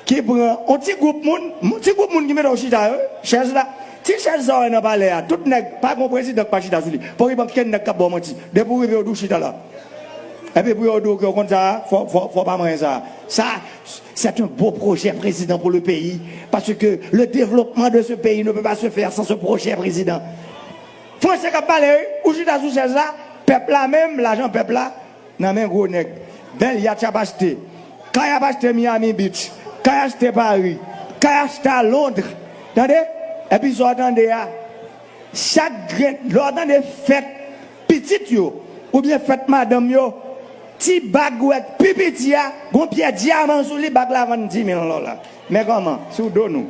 Ki pran on ti gwoup moun, ti gwoup moun ki mete w chita yo, chèz la, ti chèz sa w wè nan palè a, tout nèg, pa gen yon prezidan ki pa chita sou li. Fòk gen ankenn nèg k ap ba w manti. Depi w rive yo di w chita la. Epi pou yo di w ke w konn sa a, fò w pa manyen sa a. Sa, c'est un beau projet président pour le pays parce que le développement de ce pays ne peut pas se faire sans ce projet président. Français k ap pale wi, ou chita sou chèz la, pèp la menm, lajan pèp la, Nan men gwo nèg. Bèl yatch ap achte. Kay ap achte Miami Beach. Kay achte Paris. Kay achte a Londres. Tande! Epi sa w tande a, chak grenn, lè w tande fèt pitit yo oubyen fèt madanm yo, ti bag ou wè k pi piti a, gon pyè dyaman sou li, bag la vann 10 mil dola. Men kòman, sou do nou.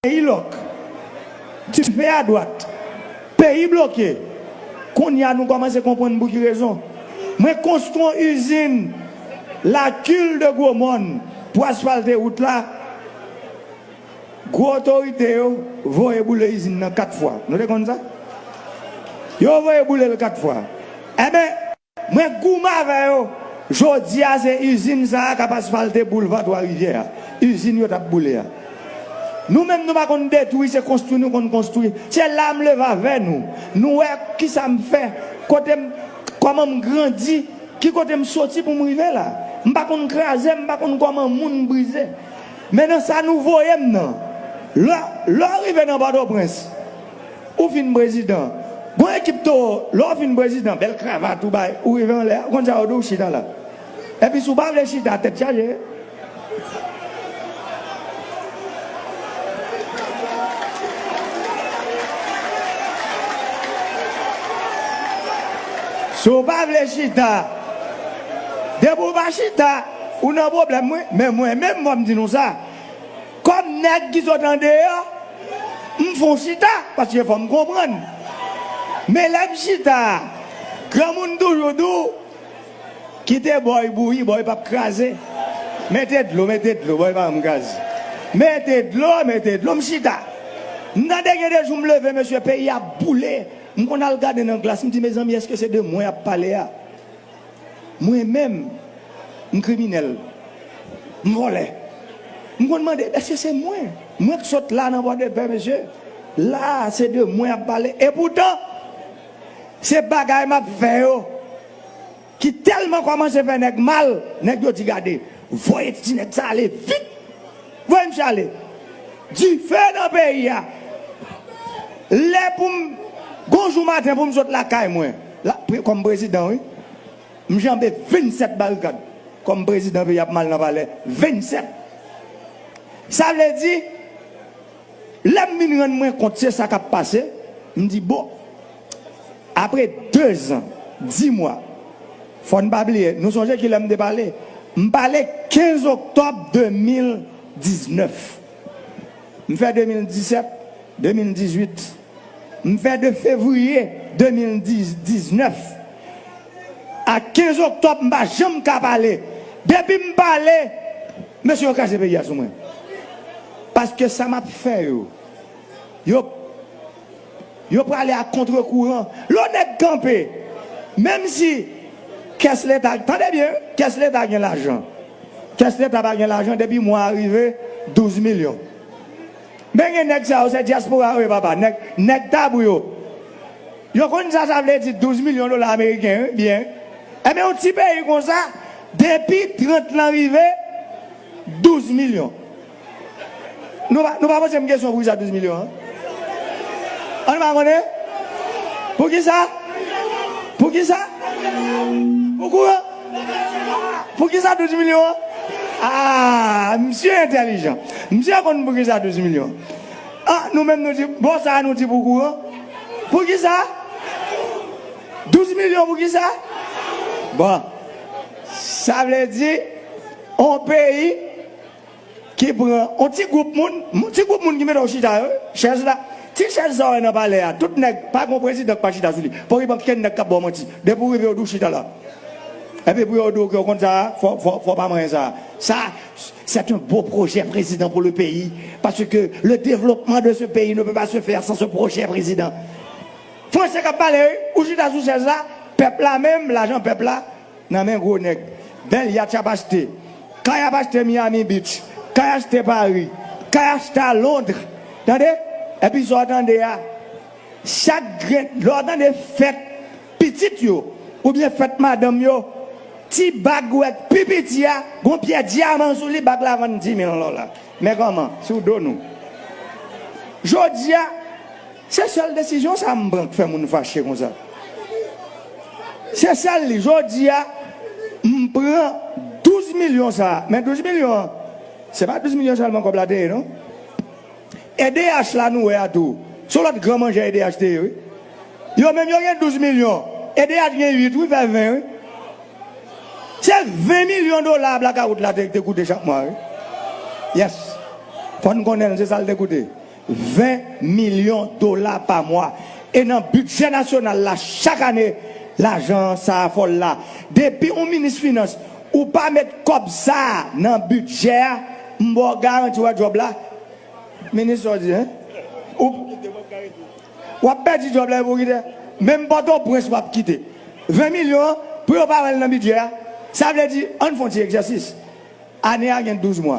Peyi lòk. Dife a dwat. Peyi bloke. Kounye a nou kòmanse konprann pou ki rezon mwen konstwi yon izin la kil de gwo mòn pou asfalte wout la. Gwo otorite yo voye boule izin nan 4 fwa. Nou te konn sa? Yo voye boule l 4 fwa. Enben. Mwen goumen avè yo. Jodi a se izin sa a k ap asfalte boulva Twa Rivyè a, izin yo t ap boule a. Nou menm nou pa konn detwi, se konstwi nou konn konstwi. Se la m leve avè nou. Nou wè ki sa m fè, kote m, kòman m grandi, ki kote m soti pou m rive la. M pa konn kraze, m pa konn kòman moun brize. Men nan sa nou voye m nan. Lè, lè w rive nan Pòtoprens. Ou fin prezidan Gon ekip towo lè w fin prezidan bèl kravat ou bay ou rive anlè a ou konn sa yo di w chita la epi si w pa vle chita tèt chaje. Si w pa vle chita depi w pa chita ou nan pwoblèm wi men mwen menm fò m di nou sa. Kòm nèg ki sot andeyò, m fon chita paske fò m konprann. Men lè m chita a, granmoun toujou di w, Kite bòy bouyi, bòy pap kraze. Mete dlo, mete dlo, bòy pa janm kraze. Mete dlo, mete dlo, m chita. M tande gen de jou m leve mesye peyi a ap boule, m konn al gade nan glas m di mezanmi èske se de mwen y ap pale a? Mwen menm, m kriminèl, m vòlè. M konn mande, èske se mwen? Mwen k sot la nan Pòdepè, mesye. La a, se de mwen y ap pale. Epoutan, se bagay m ap fè yo ki tèlman kòmanse fè nèg mal, nèg yo di gade, voye ti nèg sa ale vit! Voye misye ale. Dife nan peyi a. Lè pou m Gon jou maten pou m sot lakay mwen Kòm prezidan wi M janbe 27 barikad Kòm prezidan peyi a ap mal nan palè 27 Sa vle di Lè m vin rann mwen kont se sa k ap pase, m di bon, apre dezan, di mwa, fò n pa bliye, nou sonje ki lè m te pale? M pale 15 oktòb 2019. M fè 2017, 2018. M fè de fevriye 2019 a 15 oktòb m pa janm ka pale. Depi m pale, mesye yo kraze peyi a sou mwen. Paske sa map fè yo. Yo Yo prale a kontre kouran. Lè yon nèg kanpe. Menm si kès leta tande byen wi kès leta gen lajan. Kès leta pa gen lajan depi mwa a rive 12 milyon. Men gen nèg sa yo se dyaspora yo ye papa nèg nèg tabou yo. Yo konn sa sa vle di 12 milyon dola ameriken wi byen. Enben yon ti peyi konsa depi 30 lan rive. 12 milyon Nou pa nou pa poze m kesyon pou kisa 12 milyon an An nou pa konnen Pou kisa Pou kisa Pou kouran Pou kisa 12 milyon an Aa misye entèlijan Misye konn pou kisa 12 milyon an Nou menm nou di bon sa a nou di pou kouran Pou kisa 12 milyon pou kisa Bon Sa vle di On peyi ki pran on ti gwoup moun, ti gwoup moun ki mete yo chita yo wi, chèz la, ti chèz sa ou wè nan palè a, tout nèg, pa gen on prezidan ki pa chita sou li, pa w rive ankenn nèg k ap ba w manti, depi ou rive yo di w chita la, epi pou yo di w ke ou konn sa a, fò w pa manyen sa a. Sa, c'est un beau projet prezidan pou le peyi, paske le devlopman de se peyi ne peut pas se faire sans ce projet prezidan. Franse k ap pale wi, ou chita sou chèz la, pèp la menm, lajan pèp la, nan men gwo nèg bèl yatch ap achte kay ap achte Miami beach kay achte Paris kay achte a Londres tande epi sa w tande a chak grenn lè w tande fèt pitit yo oubyen fèt madanm yo ti bag ou wè k pi piti a gon pyè dyaman sou li bag la vann 10000 dola men kòman sou do nou jodi a. Se sèl desizyon sa m pran k fè moun fache konsa. Se sèl li. Jodi a, m pran 12 milyon sa a. Men 12 milyon an, se pa 12 milyon sèlman kòb la te ye non. Edh la nou wè a tou, se yon lòt gran manjè edh te ye wi. Yo menm yo gen 12 milyon, edh gen 8 wi, fè 20 wi. Se 20 milyon dola blakawout la te koute chak mwa wi. Yes. Fò n konnen l, se sa l te koute. 20 milyon dola pa mwa. E nan bidjè nasyonal la chak ane lajan sa a fòl la. Depi ou minis finans ou pa met kòb sa a nan bidjè a m ba w garanti w a djòb la. Minis sa w di hein? W ap pèdi djòb la epi w kite? Menm pòtoprens w ap kite. 20 milyon an pou yo pa wè l nan bidjè a? Sa vle di ann fon ti egzèsis. Ane a gen 12 mwa.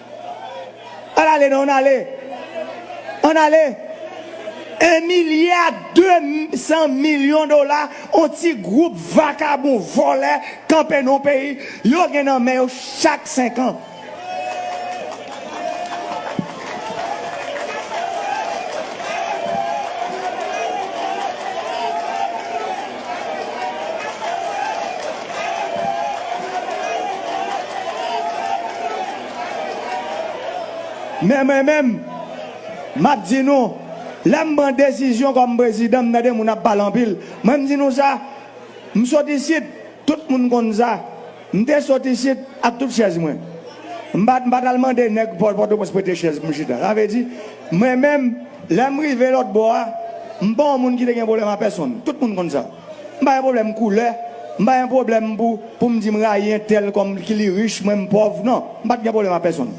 An ale non an ale. An ale. 1 milya 2 san milyon dola on ti gwoup vakabon vòlè kanpe non peyi yo gen nan men yo chak 5 an. Men mwen menm, m ap di nou, lè m pran desizyon kòm prezidan, m tande moun ap pale anpil, mwen m di nou sa, m sot isit, tout moun konn sa. M te sot isit ak tout chèz mwen. M pa m pa t al mande nèg pò Pòtoprens prete chèz pou m chita. Sa vle di, mwen menm, lè m rive lòtbò a, m pa yon moun ki te gen pwoblèm a pèsonn. Tout moun konn sa. M pa gen pwoblèm koulè, m pa gen pwoblèm pou pou m di m rayi entèl kòm ki li rich, mwen m pòv. Non, m pa t gen pwoblèm a pèsonn.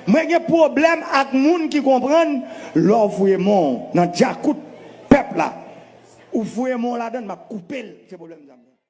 Mwen gen pwoblèm ak moun ki konprann lè w fouye men w nan djakout pèp la, ou fouye men w ladann, m ap koupe l. Se pwoblèm sa m gen.